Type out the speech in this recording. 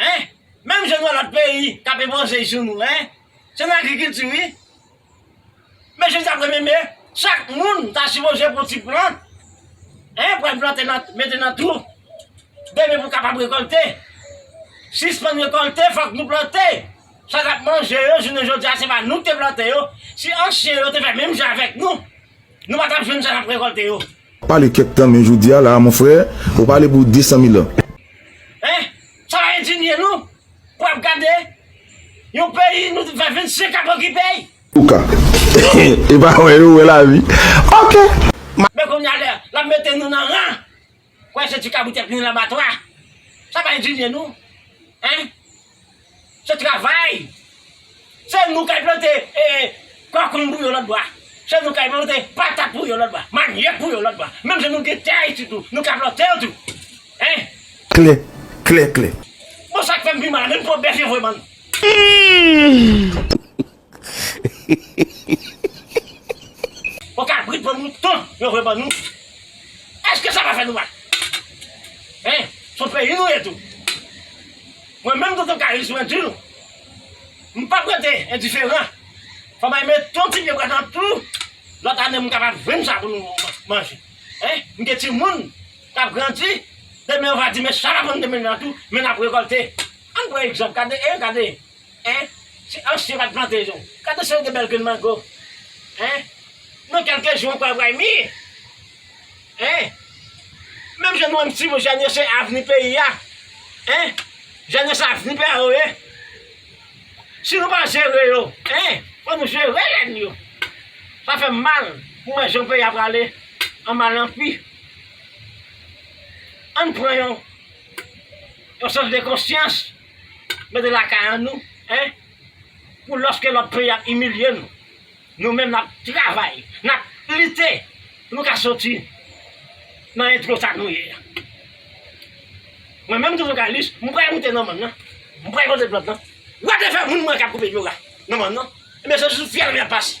Hein! Menm jan nou wè lòt peyi k ape manje jou nou hein! Se nan agrikilti wi. Men jodi a premye me, chak moun ta sipoze pran ti plan hein, pou al plante nan, mete nan twou. Demen pou kapab rekolte. Sispann rekolte fòk nou plante. Sa n ap manje yo jounen jodi a se pa nou k te plante yo. Si ansyen yo te fè menm jan avèk nou, nou pa t ap jwenn sa n ap rekolte yo. Pale kèk tan men jodi a la a mon frè ou pale pou 200 mil an. Hein! Sa pa endinye nou pou ap gade yon peyi nou t fè 25 ap okipey? Ouka. Epa wè yo wè lavi ok. Men kounya lè lap mete nou nan ran wè se ti kabrit yap ni labatwa sa pa endinye nou hein Se travay! Se nou kay plante kòkoun pou yon lòt bwa. Se nou kay plante patat pou yon lòt bwa, manyòk pou yon lòt bwa. Menm si nou gen tè ayiti tou, nou ka plante l tou. Hein? Klè, klè, klè. Bon sak fèm pi mal menm pou bèf yo vwe bann. Humm. Bon kabrit bon mouton yo vle ban nou eske sa pa fè nou mal hein son peyi nou ye tou mwen menm tonton kayis mwen di nou m pap rete endiferan fò mwen met yon ti pye bwa nan tou lòt ane m kapab jwenn sa pou nou manje hein m gen timoun kap grandi demen yo va di men sa nan menm nan tou men nap rekolte ann pran egzanp gade hein gade Hein si ansyen pat plante yo ka tou sèvi de bèl grenn mango hein nan kèlke jou ankò ap rayi mi hein menm jan nou menm ti moun janyè se avni peyi a hein janyè se avni peyi a yo ye si nou pa jere yo hein fò nou jere jèn yo sa fèm mal pou wè jan peyi a prale an mal an pi ann pran yon yon sans de konsyans. Mete lakay an nou hein pou loske lot peyi ap imilye nou nou menm nap travay nap lite pou nou ka soti nan etro sa nou ye a mwen menm tou journalist m pral moute nan mòn nan m pral pote plent nan wap de fè moun mwen kap koupe dlo la nan mòn nan ebyen se sou fyèl mwen ap pase.